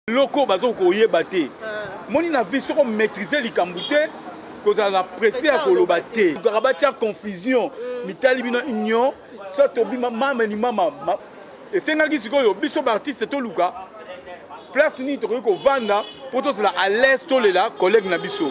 loko bazo koyeba te eh. moni na vie soko maîtriser likambo te kozala na presse ya koloba te kaka batya confusion mm. mitali bino union so tobima mama limama esengaki sikoyo biso baartiste toluka place nini tokoki kovanda mpo tozala à l'aise tolela collègue na biso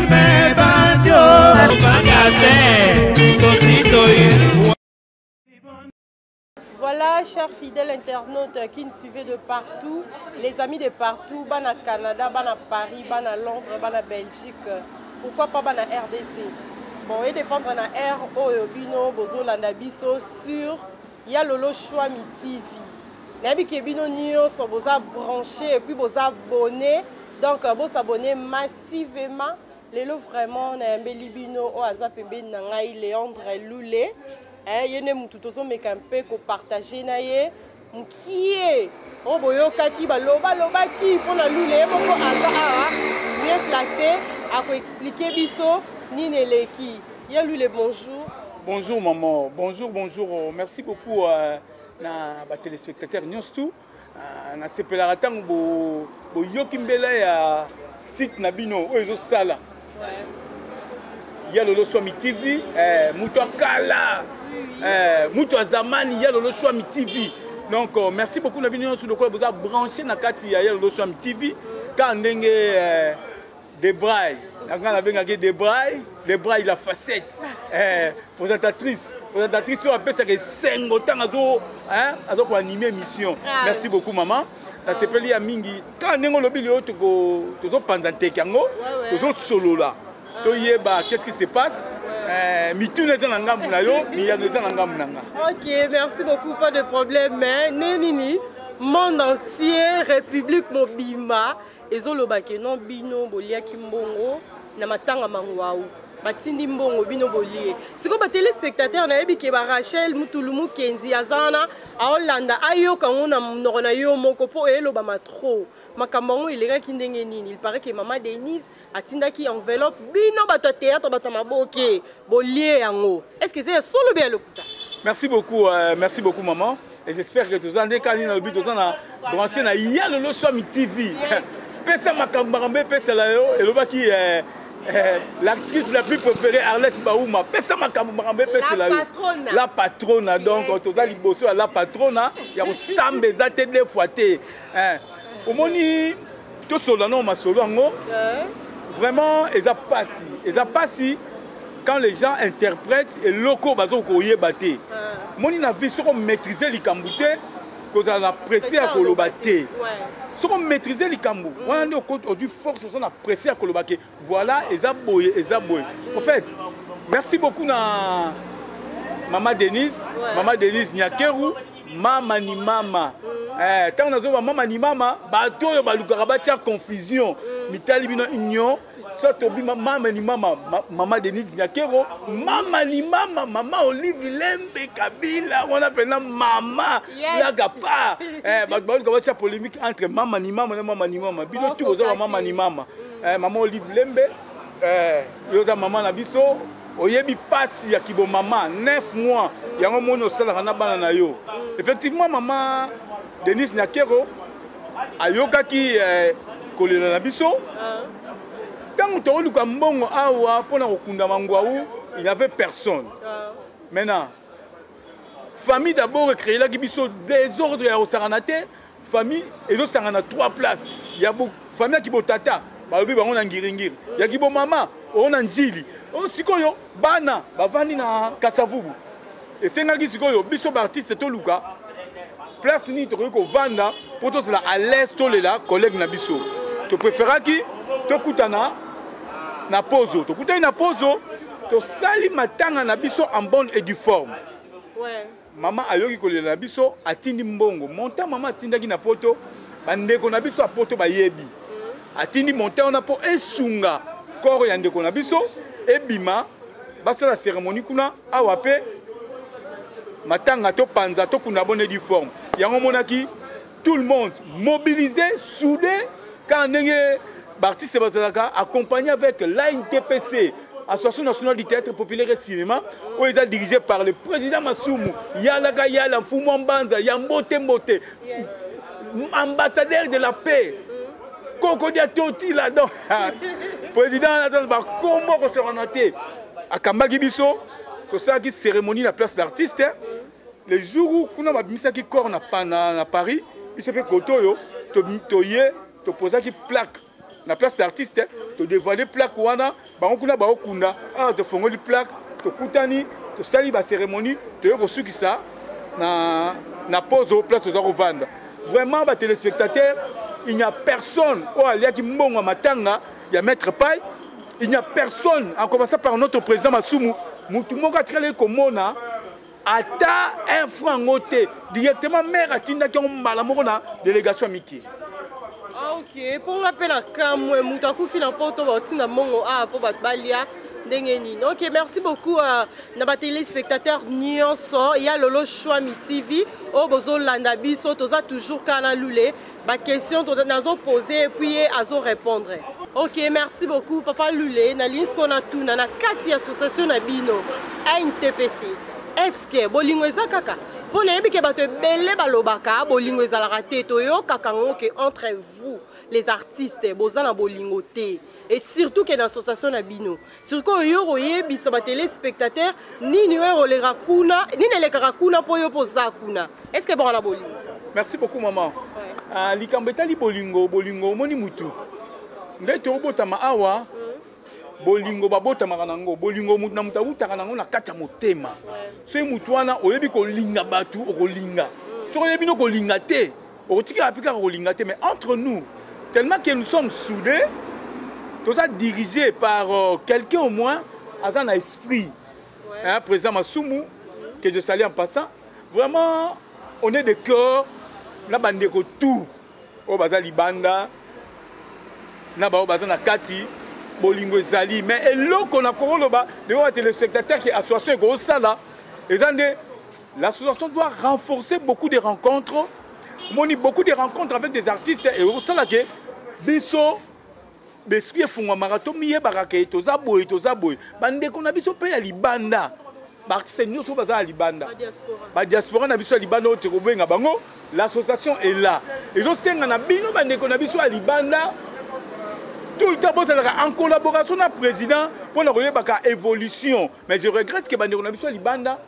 Voilà, chers fidèles internautes qui nous suivez de partout, les amis de partout, Bana Canada, Bana Paris, Bana Londres, Bana Belgique, pourquoi pas Bana RDC Bon, et dépendre na R, Oyo, Bino, Bozo, Landa, Bisso, sur Yalolo Chouami TV. Nabi Kebino Nioso, Boza branché, et puis Boza abonné, donc Boza abonné, masse. Merci vema lelo vraiment nayambeli bino oyo aza pembeni na ngai Leandre Lule eh, ye nde mutu tozomeka mpe kopartage na ye mukie oyo boyokaki baloba lobaki mpo na Lule ye moko aza awa bien place akoexplike biso nini eleki ya Lule bonjour Bonjour maman, bonjour, bonjour. Merci beaucoup euh, na ba téléspectateurs News tout. Ah, nasepelaka ntango boyoki bo mbela ya site na bino oyo ezosala ya lolo swami tv eh, moto ya kala eh, moto ya zamani ya lolo swami tv donc euh, merci beaucoup na bino nyonso lokola boza branche na kati ya ya lolo swami tv kaka ndenge eh, Debray, nanga na benga ke Debray, Debray la facette, eh, présentatrice, présentatrice oyo apesaka esengo ntango azo hein, azo ko animer émission. Ah. Merci beaucoup maman. Nasepeli ya mingi kaka ndenge olobi lelo toko tozopanza nteke yango tozosolola ah. toyeba qu'est-ce qui se passe Eh, mituna eza na ngambu na yo miyano eza na ngambu na nga ok merci beaucoup pas de problème mais nde nini monde entier république mobimba Ezo loba que non bino boliaki mbongo na matanga manguau batindi mbongo bino bolie sikoyo batelespectateur nayebi ke barachel mutulu mukenzi aza wana aolanda ayoka yango na monoko na yo moko mpo elobama trop makambo yango elekaki ndenge nini il paraît ke mama denise atindaki enveloppe bino bato ya théâtre bato ya maboke bolie yango Est ce que eza ya solo be ya lokuta? Merci beaucoup, euh, merci beaucoup maman. Et j'espère que toza nde kani na lobi toza na branché na ya lolo swami TV. Yes. pesa makambo makambo epesela yo elobaki eh, eh, l'actrice la plus préférée arlette bauma pesa makambo makambo epesela yo la patrona donc toza liboso ya la patrona ya kosamba eza te de fois te Eh, omoni tosolola nao masolo yango eh. vraiment eza pasi eza pasi quand les gens interprètent eloko bazoki koyeba te eh. moni na vie soko maîtrise likambo te kozala na presse ya koloba te soki omaîtrise likambo wana nde ozwi force oza na presse ya koloba ke Voilà eza boye eza boye. En fait, merci beaucoup na Mama Denise, ouais. Mama Denise Nyakeru, Mama ni Mama. Mm. Eh, tango nazo ba Mama ni Mama, bato oyo balukaka batia confusion. Mm. Mitali bino union soit tobi mama ni mama mama Denise Nyakero mama ni mama mama Olive Lembe Kabila wana pena mama laga pa eh bato baluka batia polémique entre mama ni mama na mama ni mama bino tu boza ba mama ni mama Eh, maman Olive Lembe, eh, yo oza mama na biso, oyebi pasi ya kibo mama 9 mois yango moni osalaka na bana na yo. Mm. Effectivement mama Denise Nyakero ayokaki eh, kolela na biso. Ah. Tango toluka mbongo awa pona kokunda mangwawu, il n'y avait personne. Ah. Maintenant famille d'abord ecreelaki biso desordre ya kosangana te famille ezosangana trois place ya famille ya kibotata balobi bango na ngiringiri ya kibomama oyo na njili oyo sikoyo bana bavandi na kasavubu esengaki sikoyo biso baartiste toluka place nini tokoki kovanda mpo tozala à l'aise tolela collègue na biso topréféraki tokutana na pozo tokutani na pozo Tosali matanga na biso en bonne et due forme. Mama ayoki kolela na biso, atindi mbongo. Montant mama atindaki na poto, bandeko na biso ya poto bayebi. Mm. Atindi montant wana mpo esunga koro ya ndeko na biso ebima basala seremoni kuna awa mpe matanga topanza tokunda bonne due forme yango omonaki tout le monde mobilise soude kaka ndenge baartiste bazalaka accompagne avec l'intpc association nationale du théâtre populaire et cinéma oyo eza dirigé par le président masumu yalaka yala mfumu wa mbanza ya mbote mbote ambassadeur de la paix kokodia totila don président aza na bakombo akosokana te akambaki biso tosalaki cérémonie na place d'artiste le jour où kuna babimisaki corps na, na, na paris biso mpe kote oyo toye to topozaki plaque na place d'artiste todevoile plaque wana bango kuna baokunda awa tofongoli plaque tokutani tosali bacérémonie toye kosukisa na, na pozo place toza kovanda vraiment batelespectateur il n'y a personne oyo aliaki mbongo ya matanga ya maître pai il n'y a personne en commençant par notre président masumu motu moko atikalaki komona ata un franc yango te directement maire atindaki yango mbala moko na délégation ya miki ah, ok mpo nga mpe na kamwe moto akufi na poto baotinda mbongo awa ah, mpo bato balia ndenge nini ok merci beaucoup uh, na batelespectateur nyonso ya lolo shwami tv oyo bozolanda biso toza toujours kaka na lule Ba question nazo pose puis ye azo repondre. Ok, merci beaucoup papa Lule. Na lingi siko na tuna na kati ya association na bino NTPC. Est-ce que bolingo eza kaka? mpo nayebi ke bato ebele balobaka bolingo ezalaka te toyokaka yango ke entre vous les artistes boza na bolingo te et surtout ke na association na bino sikoyo yo koyebisa ba telespectateur nini oyo ekoleka kuna nini elekaka kuna mpo yo mpo oza kuna est ce que ebonga na bolingo merci beaucoup maman ah, likambo etali bolingo bolingo omoni mutu nde tobotama awa mm. bolingo babotamaka na yango bolingo motu na moto awutaka na yango na kati ya motema soki motu wana oyebi kolinga bato okolinga mm. soki oyebi no kolinga te okotikala mpe kaka kolinga te mais entre nous tellement que nous sommes soudés toza dirigé par euh, quelqu'un au moins aza na esprit hein, président masumu que je salue en passant vraiment on est de cœur na bandeko tout oyo baza libanda na baoyo baza na kati bolingo ezali mais eloko na koloba ndeko ya telespectateur ke association ekosala eza nde L'association doit renforcer beaucoup de rencontres. Moni beaucoup de rencontres avec des artistes et au sala que biso besprit efungwamaka tomiyebaka ke toza boye toza boye bandeko na biso mpe ya libanda baartiste nyonso oyo baza ya libanda badiaspora na biso ya libanda oyo tokobenga bango l'association est là ezosenga na bino bandeko na biso ya libanda tout le temps bozalaka en collaboration na président mpo na koyebaka évolution mais je regrette ke bandeko na biso ya libanda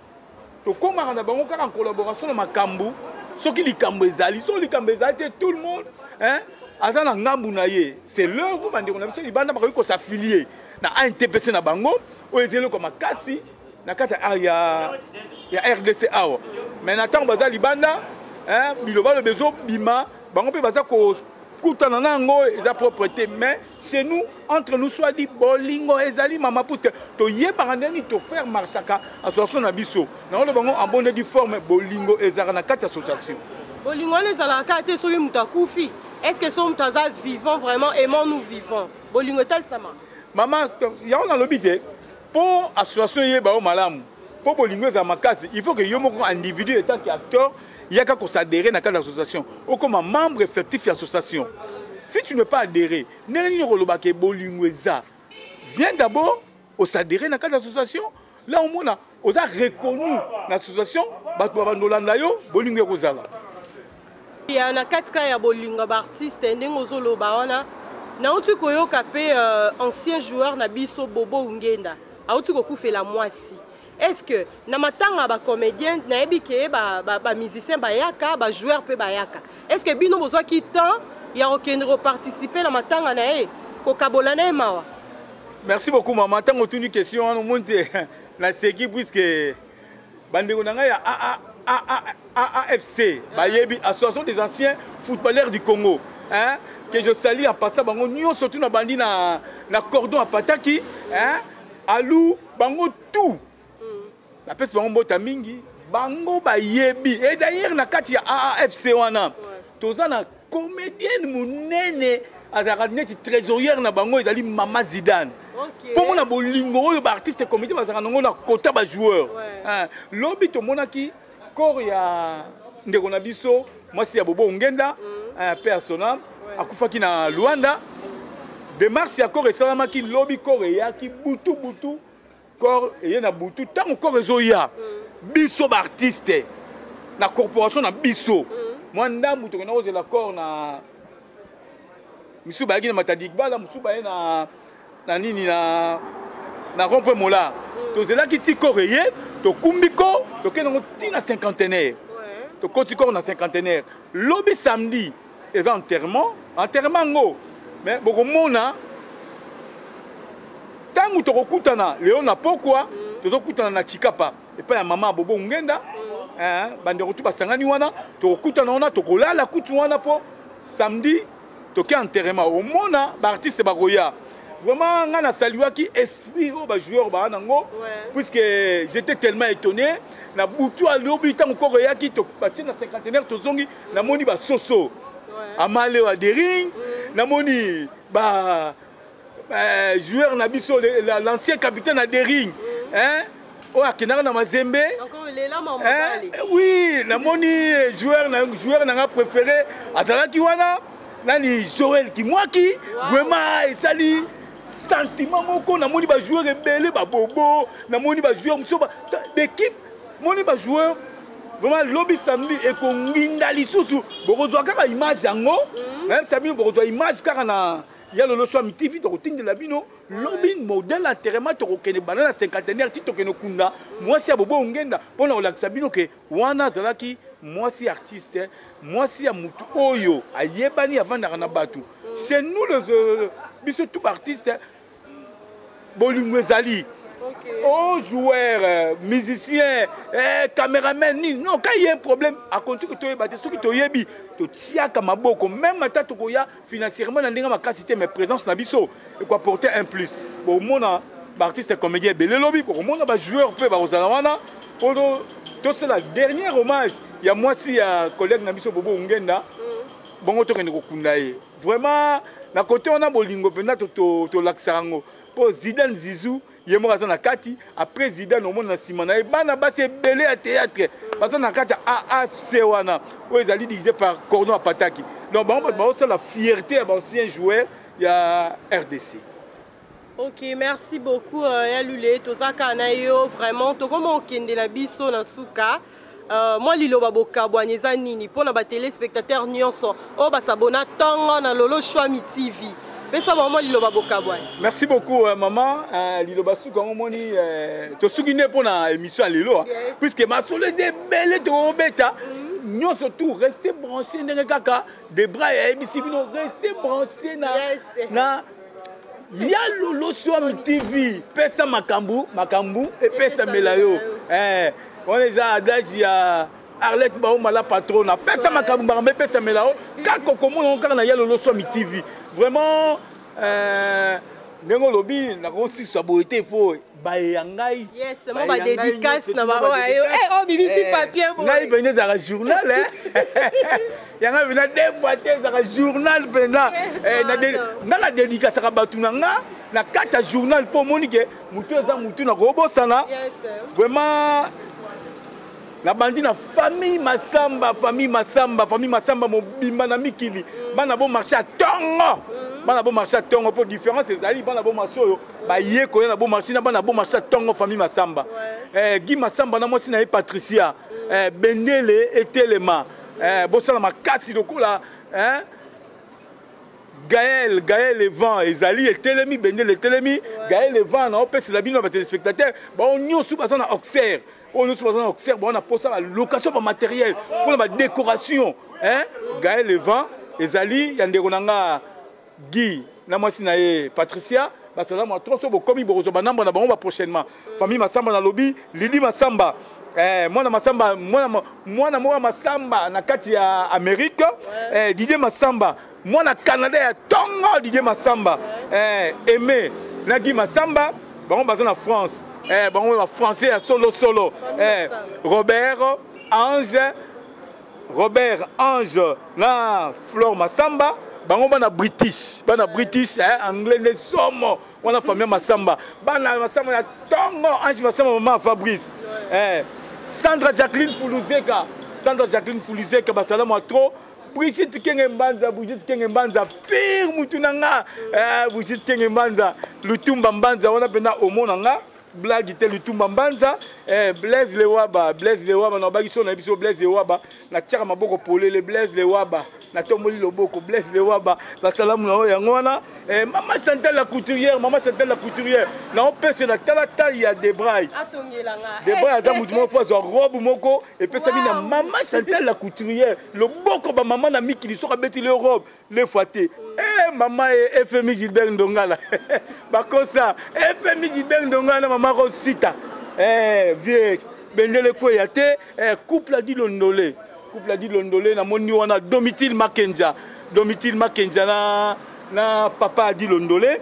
Tokomaka na bango kaka en collaboration na makambu soki likambo ezali soki likambo ezali te tout le monde hein, aza na ngambu na ye c'est leur vous bandeko na biso libanda bakoki ko s'affilier na ANTPC na bango oyo ezali eloko makasi na kati ya, ya rdc awa me na ntango baza libanda eh, bilobaloba ezobima bango mpe baza kokutana na yango eza propre te mais chez nous entre nous soit dit bolingo ezali mama puisque toyebaka ndenge nini tofaire marchaka association na biso naoloba bango en bonne du forme bolingo ezalaka na kati association bolingo wana ezalaka kaka te soki moto akufi est ce que so moto aza vivant vraiment aimant nous vivant bolingo etalisama mama yango nalobi te Po association eyeba yo malamu, po bolingo ezala makasi, il faut que yo moko individu etant que acteur yaka ko s'adherer na kati ya association, okoma membre effectif ya association. Si tu ne pas adherer, ndenge nini okoloba que bolingo eza? Viens d'abord o s'adherer na kati ya association, là omona oza reconnu na association, batu babanda kolanda yo, bolingo ekozala. ya na kati kaka ya bolingo ya baartiste ndenge ozoloba wana nauti koyoka mpe uh, ancien joueur na biso bobo ungenda auti kokufela mwasi est ce que na matanga ya bacomédien nayebi ke bamusicien ba, ba bayaka bajoueur mpe bayaka est ce que bino bozwaki temps ya kokende koparticipe na matanga na ye kokabola na ye mawa merci beaucoup mama ntango otuni question wana omoni te naseki puiske bandeko na ngai ya AFC bayebi association des anciens footballeurs du Congo hein que je salue en passant bango nyonso tout na bandi na na cordon à pataki hein alou bango tout la peste bango mbota mingi bango bayebi et d'ailleurs na kati ya AFC wana toza na comedienne monene azalaka neti trésorière na bango ezali mama zidane mpo okay. mona bolingo oyo baartiste comédien bazalaka nango na kota bajoueur ouais. lobi tomonaki corps ya ndeko na biso mwasi ya bobo ongenda mm. pe asona ouais. akufaki na luanda demarche ya corps esalamaki lobi corps eyaki butu butu Corps eye na butu ntango corps ezoya mm. biso baartiste na corporation na biso mm. mwa ndambu tokenda kozela corps na misusu bayaki na matadigbala mosusu baye na, na nini na, na rompe mola mm. tozelaki ti corps eye tokumbi ko tokende yango ti na cinquantenaire tokoti corps na cinquantenaire lobi samedi eza enterrement enterrement yango mais bokomona ntango tokokutana lelo na pokwa mm. tozokutana na chikapa epai ya mama bobo ngenda mm. eh, bandeko tu basangani wana tokokutana wana tokolala kutu wana mpo samedi toke enterrement omona baartiste bakoya vraiment ngai nasaluaki esprit oyo bajoueur baa nango puisque j'étais tellement étonné na butu alobi ntango koko eyaki batie na cinquantenaire tozongi namoni ba soso amale wa dering namoni ba euh, joueur na biso l'ancien capitaine ya dering hein oyo akendaka na mazembe eh, oui namoni eh, joueur na joueur na nga préféré azalaki wana nani joel kimwaki vraiment esali sentiment moko namoni bajoueur ebele babobo namoni bajoueur mosusu bekipe moni ba joueur vraiment lobi samedi ekonginda lisusu bokozwa kaka image yango mhm. nayebisa bino bokozwa image kaka na ya lelo so ami tv tokotindela bino lobi modèle enterrement tokokende banda na cinquantenaire ti tokende kunda mwasi ya bobo ongenda mpo na kolakisa bino ke wana azalaki mwasi artiste mwasi ya motu oyo ayebani avandaka na bato chez nous biso tout baartiste bolingo ezali okay. oh, joueur euh, musicien eh, cameraman nini non ka ye problème akonti ko toyeba te soki toyebi totiaka maboko meme ata tokoya financièrement na ndenge makasi te mais présence na biso ekoaporte un plus bomona baartiste comédien ebele lobi bokomona bajoueur mpe bakozala wana mpo tosala dernier hommage ya mwasi ya collègue na biso bobo ongenda mm. bongo tokende kokunda ye Vraiment na kote wana bolingo mpenza tolakisaka yango mpo Zidane Zizou ye moko aza na kati après Zidane omona na nsima na ye bana basi ebele ya théâtre baza na kati ya AFC wana oyo ezali dirigé par Cordon Apataki donc bango bato baosala fierté ya baancien joueur ya RDC. Ok, merci beaucoup euh, ya Lule, toza kaka na yo vraiment, tokoma okende na biso na suka. Euh, mwa liloba bokabwani eza nini mpo na batelespectateur nyonso oyo basabona ntongo na lolo shwami tv pesa bango mwa liloba bokabwani merci beaucoup euh, mama euh, liloba suku yango omoni euh, tosuki nde mpo na émission ya lelo hein. yes. puiske masolo eza ebele tokobeta mm. nyonso tout reste branché ndenge kaka debra ayebisi bino reste branché na, yes. na ya lolo swami tv pesa makambo makambo epesamela yo eh, wana eza adage ya arlette baoma la patrona pesa makambo makambo epesamela yo kaka okomona ngo kaka na ya lolo swami tv vraiment eh, ndenge olobi nakosisa boye te po baye ya ngai yes mo ba dédicace na ba oyo eh oh bibi si eh, papier bo ngai bende za journal eh yanga bina deux fois te za journal benda eh na nga na dédicace ka batu na nga na kata journal po moni ke mutu eza mutu na ko bosana yes vraiment nabandi na famille masamba famille masamba famille masamba mobimba na mikili mm. bana bo marché ya ntongo mm. bana bo marché ya ntongo mpo différence ezali bana bo marché oyo baye koya na bomasi na bana bomasi ya ntongo famille masamba eh, gi masamba na mwasi na ye patricia mm. eh, bendele etelema eh, bosala makasi lokola eh, gael gael evan ezali etelemi bendele etelemi gael evan naopesela bino ya batelespectateur bango nyonso baza na auxerre oyo nyonso baza na auxerre bango na mposa balocation bamateriel mpona badécoration gael evan ezali ya ndeko na nga Guy na mwasi na ye Patricia basala mwa tronc so bokomi bokozwa banambo na bango ba prochainement famille Masamba na lobi Lydie Masamba eh, mwana Masamba mwana, mwana moko ya Masamba na kati ya Amerique eh, Didier Masamba mwana Canada ya tongo Didier Masamba eh, Aimé na Guy Masamba bango baza na France eh, bango ba français ya solo solo eh, Robert Ange Robert Ange na Flore Masamba bango bana british bana british eh, anglais nde somo wana famille masamba bana masamba ya tongo ange masamba mama fabrice eh, sandra jacqueline fuluzeka sandra jacqueline fuluzeka basalamu ya trop Brigitte Kenge Mbanza, Brigitte Kenge Mbanza, pire mutu na nga, eh, Brigitte Kenge Mbanza, Lutumba Mbanza, wana pena omona nga, blague te lutumba mbanza eh, blaise lewaba blaise lewaba na bakiso na biso blaise lewaba natiaka maboko polele blaise lewaba natomboli loboko blaise lewaba basalamu na oyo yango wana eh, mama chantal la couturière mama chantal la couturière naopese na tala tai ya debray debray aza motu moko fo azwa robe moko epesami na mama chantal la couturière loboko bamama na mikili soki abetili yo robe deux fois te eh mama e eh, fmi gilbert ndongala bakosa eh, fmi gilbert ndongala na mama rosita eh vieux bendele kweya te eh, couple adi londole couple adi londole namoni wana domitile makenja domitile makenja na na papa adi londole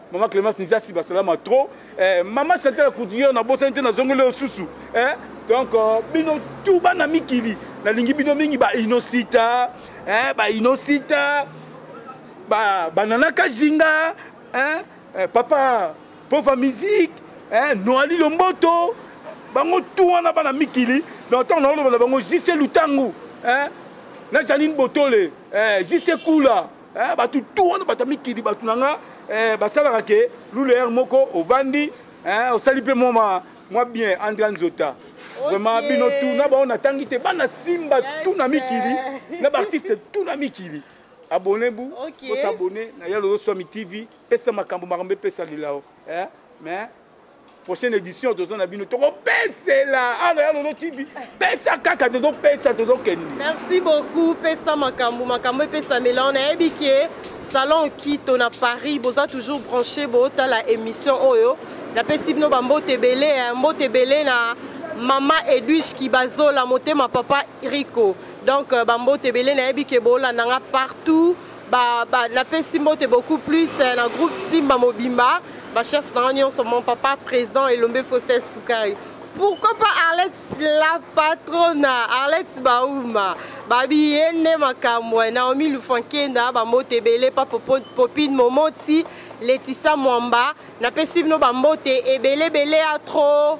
Maman Clemence Nzasi basalama trop. Eh, maman Chantal la couturière na bosani te na zongo leo susu. Eh, donc euh, bino tout bana mikili na lingi bino mingi ba inosita, eh ba inosita, ba banana kajinga, eh, eh papa pauvre musique, eh Noali Lomboto, bango tout wana bana mikili. Donc tant na loba bango jise lutangu, eh na Janine Botole, eh jise kula. eh, bato tu wana bato ya mikili bato na nga eh, basalaka ke luleere moko ovandi eh, osali mpe mwa mwa bien andra nzota vraiment okay. bino tu na bango natangi te bana simba yes. tu na mikili na baartiste tu na mikili abone bu okay. bosabone na yalo oswami tv pesa makambo makambo epesa lelao eh? mais prochaine édition toza na bino tokopesela ano ya lolo tv pesa kaka tozopesa tozokende merci beaucoup pesa makambo makambo epesamela ona yebi ke salon kito na paris boza toujours branché botala émission oyo napesi bino bambote ebele mbote ebele na mama edwige kibazola motema papa rico donc euh, bambote ebele nayebi ke bolanda nga partout ba, ba, napesi mbote beaucoup plus eh, na groupe simba mobimba bachef na nga nyonso mon papa président elombe faustin sukari pourquoi pas arlette la patrona arlette bauma babi ye nde makambo eh, naomi lufankenda bambote ebele pa popine momoti letisa mwamba napesi bino bambote ebeleebele ya trop